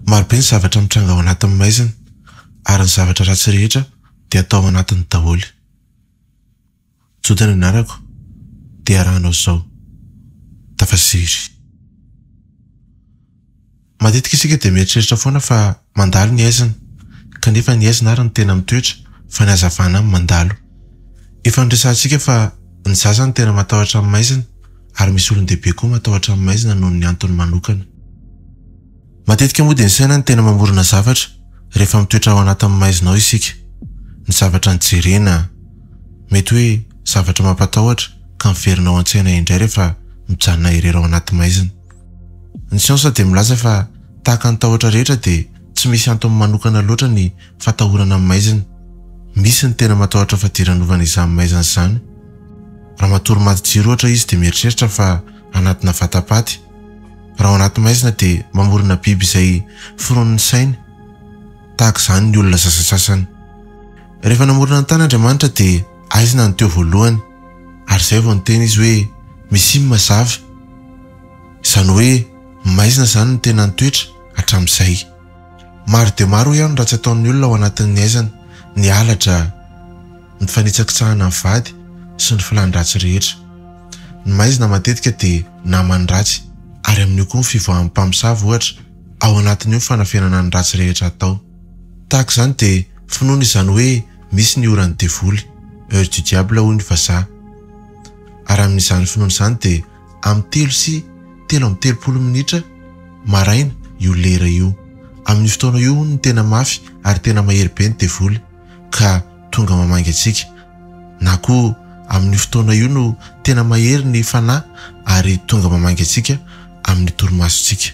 Maro be ny zavatra mitranga ao anatin'ny maizina ary ny zavatra ratsy rehetra dia atao ao anatiny daholo. Joda ny anarako dia arahanao izao, Tafasery. Matetika isika dia mieritreritra foana fa Mandalo ny haizina, kanefa ny haizina ary no tena mitoetra fa ny hazavana mandalo. Efa noresahantsika fa ny zaza no tena matahotra ny maizina ary misy olon-dehibe koa matahotra ny maizina noho ny antony manokana. Matetika moa dia ny saina no tena mamorona zavatra rehefa mitoetra ao anatin'ny maizina ao isika. Ny zavatra nojerena, mety hoe zavatra mampatahotra ka miverina ao an-tsaina indray rehefa mijanona irery ao anaty maizina. Ny siansa dia milaza fa tahaka ny tahotra rehetra dia tsy misy antony manokana loatra ny fatahorana ny maizina. Misy ny tena matahotra fadiranovana izany maizina izany. Raha matory maty jiro ohatra izy dia mieritreritra fa anatina vatapaty. Raha ao anaty maizina dia mamorona biby izay foronin'ny sainy. Tahaka izany ny olona sasasasany. Rehefa namorona ny tany Andriamanitra dia. Aizina no teo voalohany ary izay vao niteny izy hoe misy im mazava. Izany hoe maizina izany no tena nitoetra hatramin'izay. Maro dia maro hoy aho ny ratsy ataon'ny olona ao anatin'ny aizana, ny halatra, ny fanitsakitsahana ny vady sy ny filàn-dratsy rehetra. Ny maizina matetika dia naman'ny ratsy ary amin'io koa ny fivoahan'ny mpamosavy ohatra ao anatin'io ny fanafenana ny ratsy rehetra atao. Tahaka izany dia finoana izany hoe misy ny oran'ny devoly, heure du diable hoy ny vazaha. Ary amin'izany finoana izany dia amin'ny telo sy telo amby telopolo minitra maraina io lera io. Amin'io fotoana io hono no tena mafy ary tena mahery be ny devoly ka tonga mamangy antsika. Na koa amin'io fotoana io no tena mahery ny fanahy ary tonga mamangy antsika amin'ny torimasontsika.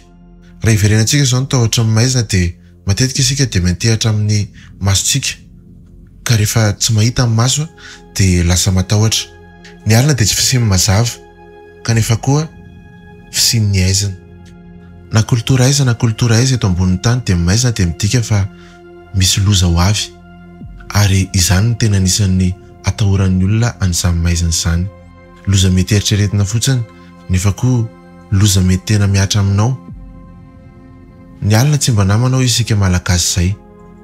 Raha hiverenantsika izao ny tahotra ny maizina dia. Matetika isika dia miantehatra amin'ny masontsika ka rehefa tsy mahita ny maso dia lasa matahotra. Ny alina dia tsy fisian'ny mazava kanefa koa fisian'ny aizina. Na kolotora aiza na kolotora aiza eto ambonin'ny tany dia maizina dia midika fa misy loza ho avy ary izany no tena anisan'ny atahoran'ny olona an'izany maizina izany. Loza mety eritreretina fotsiny nefa koa. Loza mety tena mihatra aminao. Ny alina tsy mba namana hoy isika Malagasy izay.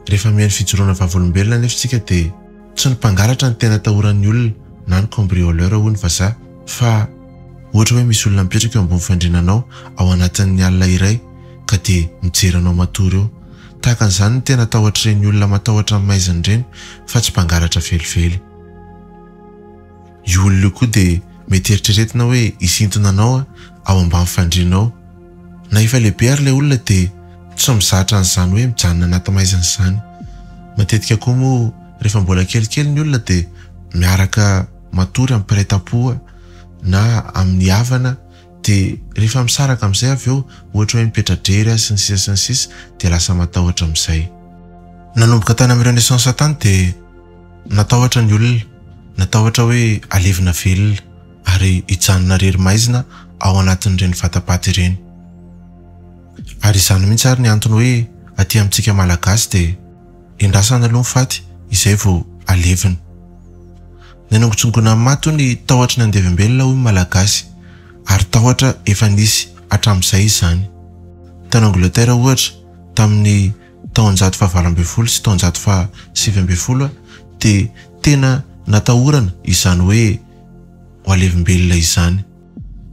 Rehefa mihaino fijoroana vavolombelona anefa isika dia tsy ny mpangalatra no tena atahoran'ny olona na ny cambrioleur hoy ny vazaha fa ohatra hoe misy olona mipetraka eo ambony fandriana anao ao anatin'ny alina iray ka dia mijery anao matory eo. Tahaka an'izany ny tena tahotr'ireny olona matahotra ny maizina ireny fa tsy mpangalatra velively. Io olona io koa dia mety eritreretina hoe hisintona anao ao ambany fandriana ao. Na efa lehibe ary ilay olona dia tsy mizatra an'izany hoe mijanona anaty maizina izany. Matetika koa moa rehefa mbola kelikely ny olona dia miaraka matory amin'ny mpiray tam-po na amin'ny havana dia rehefa misaraka amin'izay avy eo ohatra hoe mipetra-drery azy sy ny sisa sy ny sisa dia lasa matahotra amin'izay. Nanomboka tany amin'ireo naissance tany dia. Natahotra ny olona, natahotra hoe halevina velona ary hijanona irery maizina ao anatin'ireny vatapaty ireny. Ary izany mihitsy ary ny antony hoe aty amintsika Malagasy dia endrasana aloha ny faty izay vao halevina. Ny hanongotsongonan'ny maty hoy ny tahotry ny handevim-belona hoy ny Malagasy ary tahotra efa nisy hatramin'izay izany. Tany Angleterre ohatra tamin'ny taonjato fahavalo ambin'ny folo sy taonjato fahasivy ambin'ny folo dia tena natahorana izany hoe ho alevimbelona izany.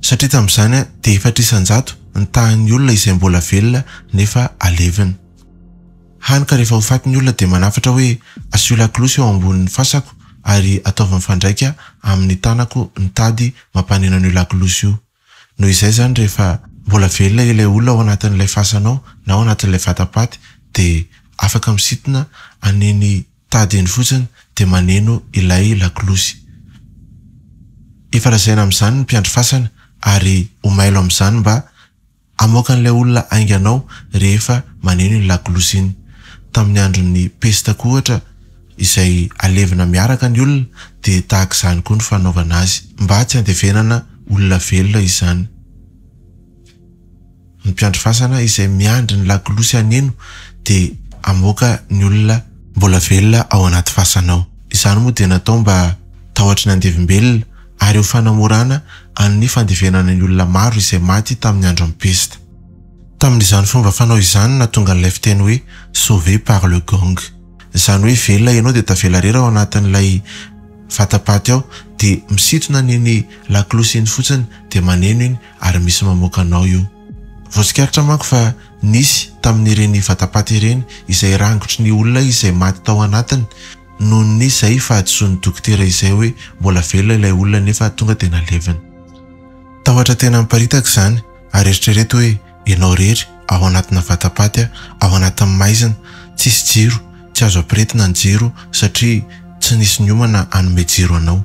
Satria tamin'izany dia efatra isan-jato ny tahan'ny olona izay mbola velona nefa alevina. Hany ka rehefa ho faty ny olona dia manafatra hoe asio lakolosy eo ambonin'ny fasako ary ataovy mifandraika amin'ny tanako ny tady mampaneno an'io lakolosy io. Noho izay izany rehefa mbola velona ilay olona ao anatin'ilay fasana ao na ao anatin'ilay vata-paty dia afaka misintona an'iny tady iny fotsiny dia maneno ilay lakolosy. Efa lazaina amin'izany ny mpiandry fasana ary ho mailo amin'izany mba Amoakan'ilay olona hainganao rehefa maneno iny lakolosy iny. Tamin'ny andron'ny pesta koa ohatra, izay alevina miaraka ny olona, dia tahaka izany koa ny fanaovana azy. Mba tsy handevenana olona velona izany. Ny mpiandry fasana izay miandry ny lakolosy haneno dia amoaka ny olona. Mbola velona ao anaty fasana ao. Izany moa dia natao mba tahotry ny andevim-belona ary ho fanamorana an'ny fandevenana ny olona maro izay maty tamin'ny andron'ny pesta. Tamin'izany fomba fanao izany nahatonga an'ilay fiteny hoe sauvé par le gong. Izany hoe velona ianao dia tavela rera ao anatin'ilay vatapaty ao dia misintona ny iny lakolosy iny fotsiny dia maneno iny ary misy mamoaka anao eo. Voatsikaritra manko fa nisy tamin'ireny vatapaty ireny izay rangotry ny olona izay maty tao anatiny. Nony izay fahadisoan'ny dokotera izay hoe mbola velona ilay olona nefa tonga dia nalevina. Tahotra tena niparitaka izany ary eritrereto hoe ianao irery ao anatina vatapaty aho, ao anatin'ny maizina, tsisy jiro, tsy azo ampiretina ny jiro satria tsy nisy niomana hanome jiro anao.